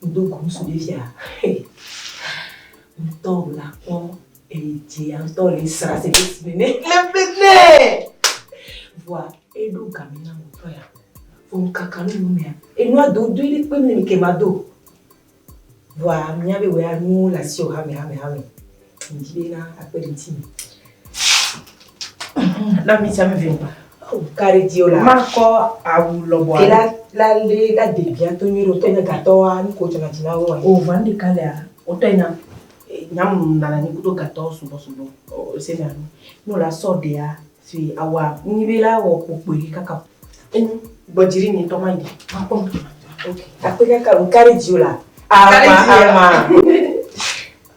Wodo go ŋutsu ɖe fia hey ŋutɔ la kpɔ eyi dzi ya ŋutɔ le sra se ɖe si ne ne vɔa eɖo game na ŋutɔ ya vɔ ŋkaka nu nu mea enua do do ɖe kpe ne ke ma do vɔa mia be wɔ ya nuwo le asi o hame hame hame Na mi tsami vim. Kari dio la. Ma kɔ awu lɔbɔ. Kela la le la de bia to nyuie do tɛnɛ gatɔ wa ni ko tɛnɛ tina wo. O va ndi kalea. O tɛ nya. Nya mu nana ni kudo gatɔ sugbɔ sugbɔ. O se na ni. No la sɔ dea si awa ni be la wɔ kpokpo yi kaka. En bɔ jiri ni tɔ ma yi. Ma kɔ. Ok. Akpe kaka kari dio la. Ama ama.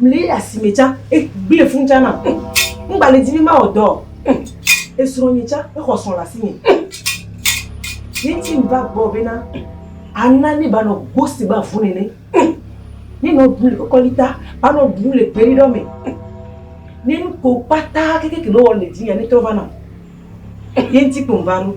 Mli asime tsã, egblẽ fũ tsã nam. Ŋgbalẽ di be mawɔ dɔ o. Esrɔ̃nye tsã, exɔ srɔ̃ le asinye. Ye ŋti meva gbɔɔ bena ana ne banɔ go si be avu nene. Ne nɔ bu le kɔkɔlita, banɔ bu le gbeɖiɖɔ me. Ne nuko kpata kekeke nɔ wɔ le dzinyea, netrɔ va nam. Ye ŋti kpo mva ɖo.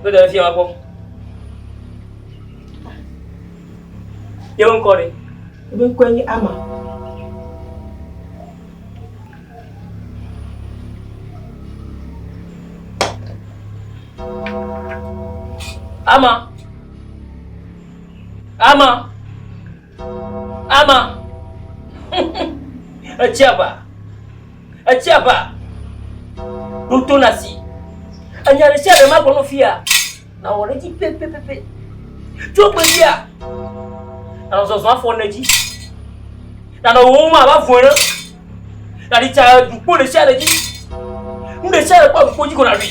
Kpe ɖe efia gbɔ. Yewo ŋkɔ ɖe? Eƒe ŋkɔe nye Ama. Ama. Ama. Ama. Etsiaba. Etsiaba. Ɖoto na si. Enya ɖe sia ɖe ma gbɔnɔ fia. Na wɔ ɖe dzi pepepepe. Tso gbe fia. Na zɔzɔ afɔ ne dzi. Na nɔ wo ma va vɔ ɖe. Na ɖi tsa dukpo ɖe sia ɖe dzi. Nu ɖe sia ɖe kpɔ dukpo dzi ko na ɖui.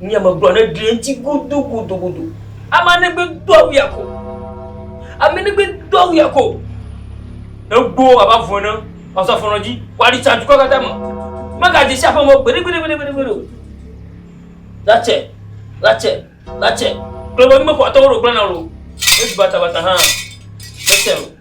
Nye megblɔ ne ɖe ŋuti gudugudugudu. Ame ne gbe do awu ya ko. Ame ne gbe do awu ya ko. Egbo aba vɔ ne pasa fɔnɔ dzi. Wa di tsa dukɔ kata me. Mega dzi sha fɔnɔ gbede gbede gbede gbede gbede. Latse, latse, latse. Kle bo mi me ko atɔ wo do gbana lo. Esu bata bata ha. Latse lo.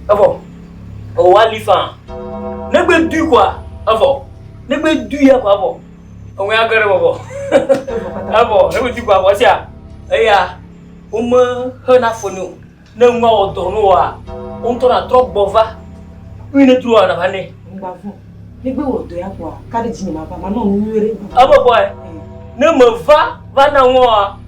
Evo. O wa li fa. Ne gbe du kwa. Evo. Ne gbe du ya kwa evo. Òŋue agbe ɖe bɔbɔ. Ebɔ, eɖuti kɔ abɔ sia. Eya, wome hena fo ni o. Ne ŋua wɔ dɔ no wa, wo ŋutɔ na trɔ gbɔ va. Ui ne tu wa na va ne. Ŋgba vɔ. Ne gbe wɔ dɔ ya kɔ, ka ɖe dzi ne ma va, ma nɔ nu nyuie ɖe. Ebɔ bɔ ɛ. Ne me va, va na ŋua wa.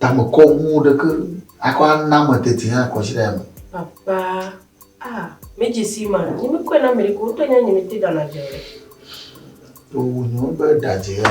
Tamekɔ ŋu ɖeke akɔ ana me tete hã kɔ si ɖe ame. Papa, ah, medzi si ma, nyi mi kɔe na Amerika, wotɔ nya nyi mi te dana dze ɖe. To nyo be dadzea.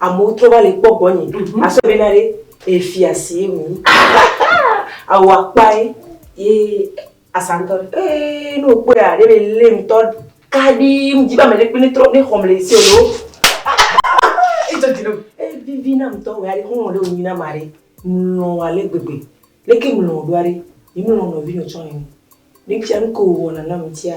Amewo trɔ va le kpɔ gbɔnye. Mhm. Asɔ bena ɖe efia si ye wònyi. Awu akpae ye asantɔ ɖe. Ee ne wòkpɔe a ɖe be lé ŋutɔ kaɖi ŋdi be ame ɖe kpe ne trɔ ne xɔm le esi o ɖo. Etsɔ dzi ɖo. Evivi na ŋutɔ wɔ aɖe xɔlɔ ɖe wònyi na ma ɖe. Mlɔ wɔ ale gbegbe. Leke mlɔ wò ɖo aɖe? Yi mlɔ nɔvi nɔ tsɔ nene. Ne fia nu ke wòwɔna nam ŋutia.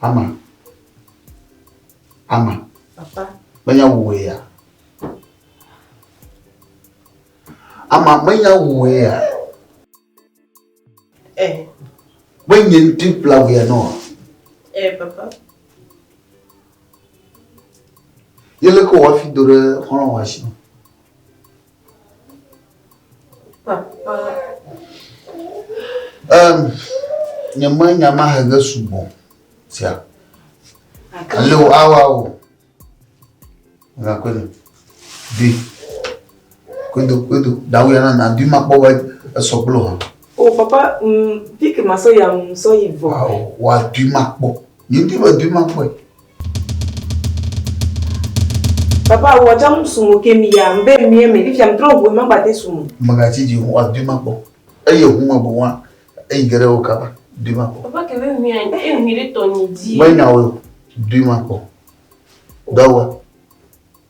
Ama. Ama. Papa. Menya wòe ya. Ama menya wòe ya. Ɛ. Eh. Menye ŋuti kpla wòe ya nɔ. Ɛ eh, papa. Yele ko wafi do ɖe xɔlɔ wa si. Papa. Um, nye mɔ nya ma hege sugbɔ sia. Ale o awa o. Ngakwe no. Di. Kwedo kwedo. Dawu ya na na di ma kpɔ be esɔgblo ha. O papa, mm, pike ma so ya mm so yi vɔ. Wa di ma kpɔ. Yedi be dui ma kpɔe. Papa, wò atsam sum o ke mi ya, mbe mie me, fifia mtrɔ ŋu eme mgbate sum o. Mègatsi dzi o, wòadui ma kpɔ. Eye ŋu me boŋua, eyi ge ɖe wo kaba, dui ma kpɔ. Papa, ke be ŋui a, e ŋui ɖe tɔnye dzi. Menya woe o, dui ma kpɔ. Dɔ wɔ.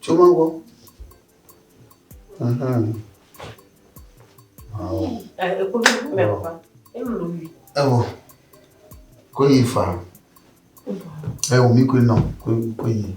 Tso ma gbɔ. Evo. Ko yi fa. Evo mi ko nɔ ko yi.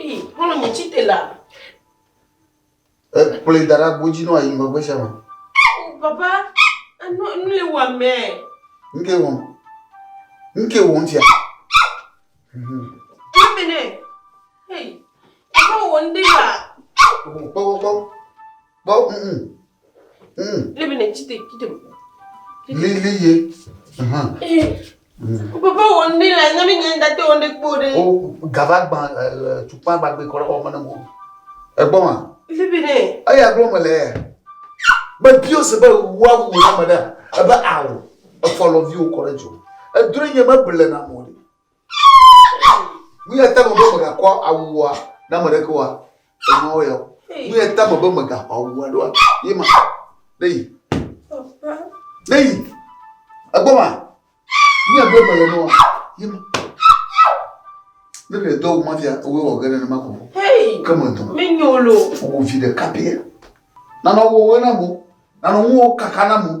Ii, Xlɔ̃ nye tsite la. Ekplɔe da ɖe agbo dzi nɔ ayi megbe sia me. O papa, enɔ nu le wò amɛ. Nu ke wɔm. Nu ke wɔm fia. Kpɔ mɛ nɛ. Hei, papa wɔ nu ɖe la. Kpɔ kpɔ kpɔ. Kpɔ, mm, mm. Lebe ne ci te ci te. Li li ye. Aha. O papa wo ndi la nyami nyɛ da te wo ndi kpo de. O gava gba tukpa gba gbe kɔrɔ o mane mo. Egbɔ ma. Lebe ne. Ayi aglo me le. Be bio se be wa wu na me da. Ebe awo. Efɔ lɔ vi o kɔrɔ jo. Edre nye me bele na mo. Nu ya ta me be mègakɔ awua na ame aɖeke oa? Enyawo yawo. Nu ya ta me be mègaxɔ awu aɖewoa, ye ma. Ne yi. Ne yi. Egbɔ ma. Nu ya gblɔm mele nɔa, ye ma. Ne ɖe dɔ wu ma fia, ewɔe wɔ ge nenema ko. Ke me dɔ. Menyo lo. Wò vi ɖeka pia. Nanɔ wòwe na mo. Nanɔ nuwo kaka na mo.